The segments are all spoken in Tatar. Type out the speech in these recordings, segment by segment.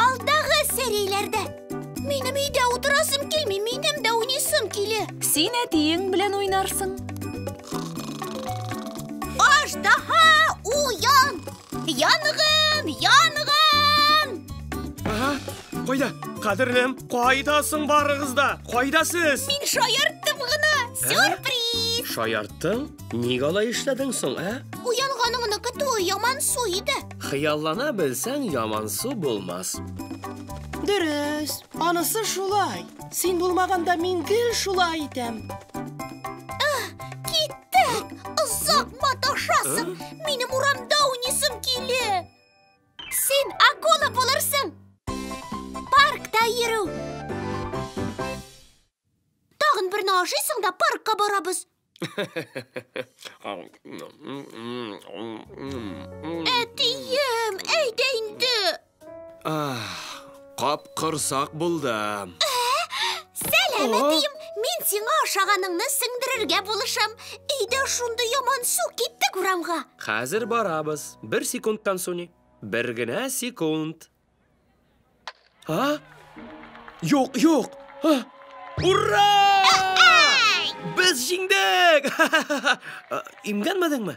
Алдагы серияләрдә. Минем өйдә утырасым килми, минем дә уйныйсым килә. Син әтиең белән уйнарсың. Аждаһа уян! Янгын! Янгын! Ага, кайда? Кадерлем, кайда соң барыгыз да? Кайда сез? Мин шаярттым гына. Сюрприз! Шаярттың? Ник алай эшләдең соң, ә? Уянганыңны көтүе ямансу иде. Хыяллана белсәң, ямансу булмас. Дөрес, анысы шулай. Син булмаганда мин гел шулай итәм. Киттек! Озак маташасың! Минем урамда уйныйсым килә! Син акула булырсың! Паркта йөрү! Тагын берне ашыйсың да паркка барабыз. Әтием, әйт инде. Капкорсак булдым. Сәлам, әтием. Мин сиңа ашаганыңны сеңдерергә булышам. Өйдә шундый яман су киттек урамга. Хәзер барабыз. Бер секундтан, Суни. Бер генә секунд. А? Юк, юк. А? Ура! Без җиңдек! Имгәнмәдеңме?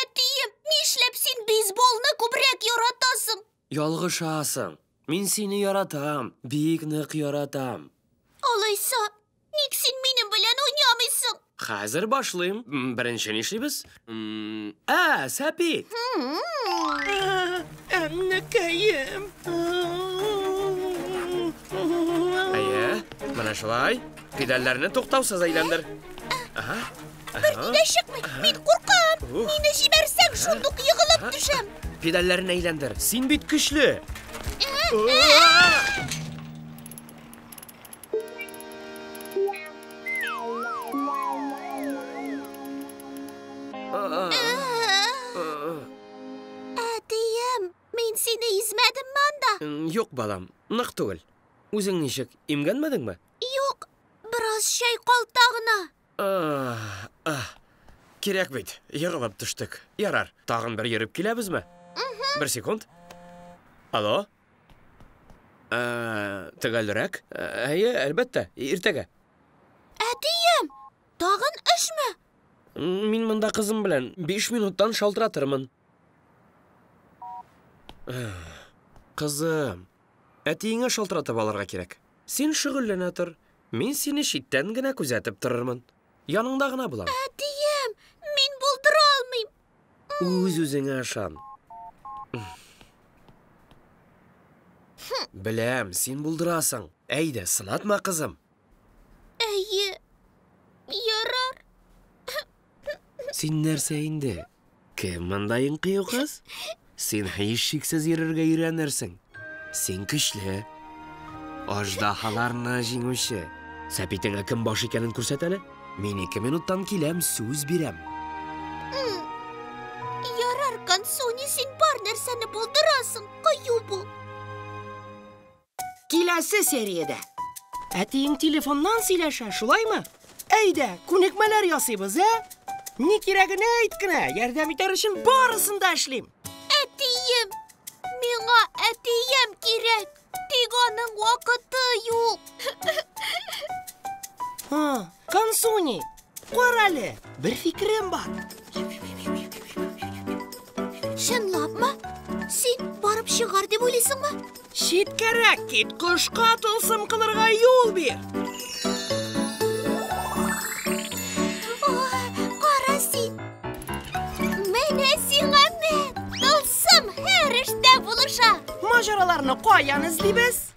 Әтием, нишләп син бейсболны күбрәк яратасың? Ялгышасың. Мин сине яратам, бик нык яратам. Алайса, ник син минем белән уйнамыйсың? Хәзер башлыйм. Беренче нишлибез? Ә, сәпит. Әннәкәем. Әйе, менә шулай. Педальләрне туктаусыз әйләндер. Ага. Бер дә чыкмый. Мин куркам. Мине җибәрсәң, шундук егылып төшәм. Педальләрен әйләндер. Син бит көчле. Әтием, мин сине измәдем монда. Юк, балам, нык түгел. Үзең ничек, имгәнмәдеңме? Юк, бераз чайкалта гына. Кирәк бит, егылып төштек. Ярар, тагын бер йөреп киләбезме? Бер секунд. Алло? Төгәлрәк? Әйе, әлбәттә, иртәгә. Әтием, тагын эшме? Мин монда кызым белән биш минуттан шалтыратырмын. Кызым, әтиеңә шалтыратып алырга кирәк. Син шөгыльләнә тор. Мин сине читтән генә күзәтеп торырмын. Яныңда гына булам. Әтием, мин булдыра алмыйм. Үз-үзеңә ышан. Беләм, син булдырасың. Әйдә, сынатма, кызым. Әйе. Ярар. Син нәрсә инде? Кем монда иң кыю кыз? Син һичшиксез йөрергә өйрәнерсең. Син көчле. Аждаһаларны җиңүче. Сәпитеңә кем баш икәнен күрсәт әле. Мин ике минуттан киләм, сүз бирәм. Ярар, Кансуни, син бар нәрсәне булдырасың, кыю бул. Киләсе сериядә. Әтиең телефоннан сөйләшә, шулаймы? Әйдә, күнекмәләр ясыйбыз, ә? Ни кирәгенә әйт кенә, ярдәм итәр өчен барысын да эшлим. Әтием! Миңа әтием кирәк, тик аның вакыты юк. Ха, Кансуни, Карале, бер фикерем бар. Чынлапмы? Син барып чыгар дип уйлыйсыңмы? Читкәрәк кит, кошка тылсым кылырга юл бир. Мажараларны каян эзлибез?